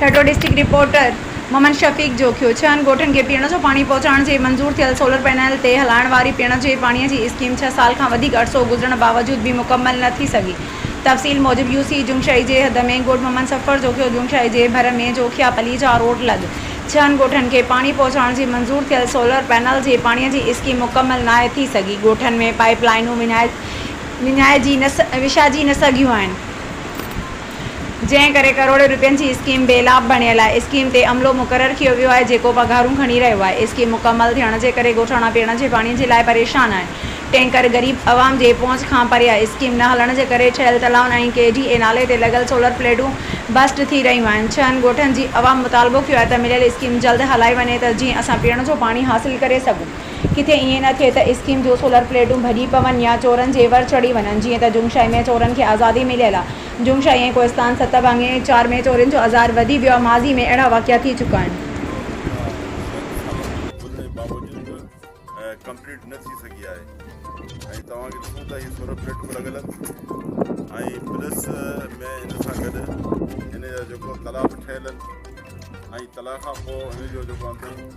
Thatta, district reporter, Muhammad Shafiq Jokhio, ڇهن ڳوٺن کي پيئڻ جو پاڻي پهچائڻ جي منظور ٿيل سولر پينل تي هلائڻ واري پيئڻ جي پاڻي جي اسڪيم ڇهه سال کان وڌيڪ عرصو گذرڻ باوجود به مڪمل نه ٿي سگهي تفصيل موجب يو سي جومشائي جي حد ۾ ڳوٺ محمد سفر جوکيو جومشائي جي ڀر ۾ جوکيا پلي جا روڊ لڳ ڇهن ڳوٺن کي پاڻي پهچائڻ جي منظور ٿيل سولر پينل جي پاڻي جي اسڪيم مڪمل ناهي ٿي سگهي ڳوٺن ۾ پائيپ لائينون وڃائجي نه سگهيون آهن. جنهن ڪري ڪروڙين روپين جي اسڪيم بي لاڀ بڻيل آهي، اسڪيم تي عملو مقرر ڪيو ويو آهي جيڪو پگهارون کڻي رهيو آهي، اسڪيم مڪمل ٿيڻ جي ڪري ڳوٺاڻا پيئڻ جي پاڻي جي لاء پريشان آهن، ٽينڪر غريب عوام جي پهچ کان پري آهي، اسڪيم نه هلڻ جي ڪري ٺهيل تلائن ۽ ڪي ڊي اي نالي تي لڳل سولر پليٽون بسٽ ٿي رهيون آهن، ڇهن ڳوٺن جي عوام مطالبو ڪيو آهي ته مليل اسڪيم جلد هلائي وڃي ته جيئن اسان پيئڻ جو پاڻي حاصل ڪري سگهون. ڪٿي ائين نه ٿئي ته اسڪيم جون سولر پليٽون ڀڄي پون يا چورن جي ور چڙهي وڃن جيئن ته جنگ شاهي ۾ چورن کي آزادي مليل آهي. جنگ شاهي ۽ ڪوهستان ست ڀاڱي چار ۾ چورين جو عذار وڌي ويو آهي. ماضي ۾ اهڙا واقعا ٿي چڪا آهن. اها شرط اسان وٽ هجڻ باوجود به ڪمپليٽ نه ٿي سگهي آهي ۽ توهان کي ڏسون ته هي سولر پليٽون به لڳل آهن ۽ پلس ۾ ان سان گڏ ان جا جيڪو تلا به ٺهيل آهن ۽ تلا کان پوء ان جو جيڪو اندر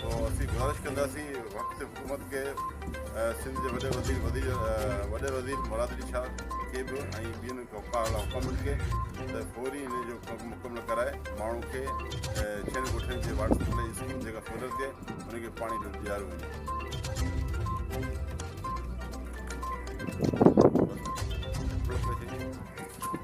تو اسين گذارش ڪنداسين وقت حڪومت کي سنڌ جي وڏي وزير وزير وڏي وزير مراد علي شاھ کي به ۽ ٻين ڪوپاھه حڪامن کي ته فوري ان جو ڪم مڪمل ڪرائي ماڻھو کي ڇھن ڳوٺن جي واٽر سپلائي اسڪيم جيڪا فيلر ٿئي ان کي پاڻي ڏياريو وڃي.